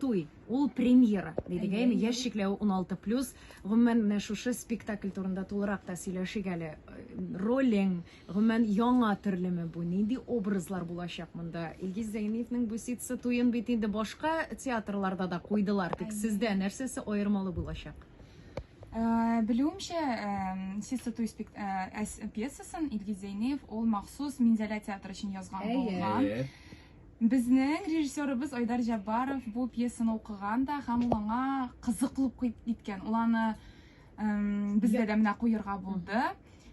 Туй, ул премьера, дидек, әйме, яшь чикләве 16 плюс. Гомумән, менә шушы спектакль турында тулырак та сөйләшик әле. Ролең, гомумән, яңа төрлеме бу? Нинди образлар булачак монда? Илгиз Зәйниевнең бу ситсы туен бит инде башка театрларда да куйдылар, тик сездә нәрсәсе аермалы булачак? Э, Белүемчә, э, ситсы туй э, пьесасын Илгиз Зәйниев ул махсус Минзәлә театры өчен язган булган. Безнең режиссерыбыз Айдар Җаббаров бу пьесаны укыган да һәм ул аңа кызыклы ук киткән. Ул аны эм, безгә дә менә куерга булды.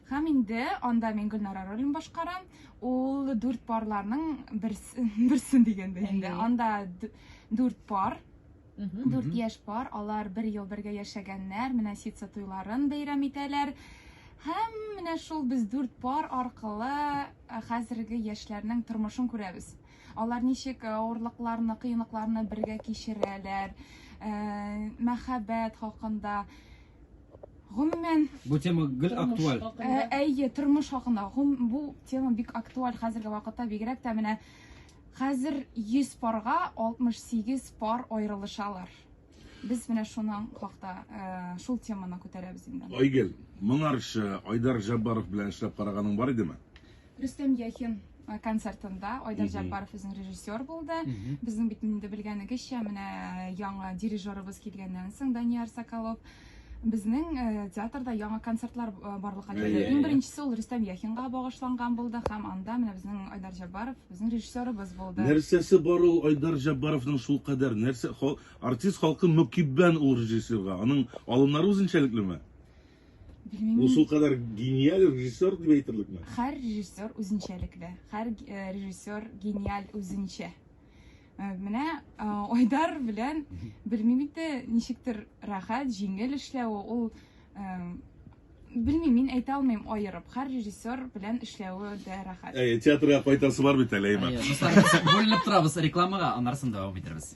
Һәм инде анда мин Гөлнара ролен башкарам. Ул дүрт парларның берсе, берсен дигәндә инде. Әйе. Анда д- дүрт пар Дүрт яшь пар, алар бер ел бергә яшәгәннәр, менә ситса туйларын бәйрәм итәләр. Һәм менә шул без дүрт пар аркылы э, хәзерге яшьләрнең тормышын күрәбез. Алар ничек э, авырлыкларны, кыенлыкларны бергә кичерәләр, э, мәхәббәт хакында. Гомумән, Бу тема гел актуаль. Ә, Әйе, тормыш хакында. Гом- Бу тема бик актуаль хәзерге вакытта, бигрәк тә менә Хәзер 100 парга 68 пар аерылышалар. Без менә шуның хакта, шул теманы күтәрәбез инде. Айгөл, моңарчы Айдар Җаббаров белән эшләп караганың бар идеме? Рөстәм Яхин концертында Айдар Җаббаров үзен режиссер булды. Безнең бит инде белгәнегезчә, менә яңа дирижерыбыз килгәннән соң Данияр Соколов Безнең э, театрда яңа концертлар э, барлыкка килде. Иң беренчесе ул Рөстәм Яхинга багышланган булды һәм анда менә безнең Айдар Җаббаров, безнең режиссерыбыз булды. Нәрсәсе бар ул Айдар Җаббаровның шул кадәр нәрсә хал, артист халкы мөкиббән ул режиссерга. Аның алымнары үзенчәлеклеме? Белмим. Ул шул кадәр гениаль режиссер дип әйтерлекме? Һәр режиссер үзенчәлекле. Һәр э, режиссер гениаль үзенчә. Э, менә э, айдар белән белмим инде ничектер рәхәт җиңел эшләве ул э, белмим мин әйтә алмыйм аерып һәр режиссер белән эшләве дә рәхәт әй театрга кайтасы бар бит әле әймән бүленеп торабыз рекламага аннары да дәвам итербез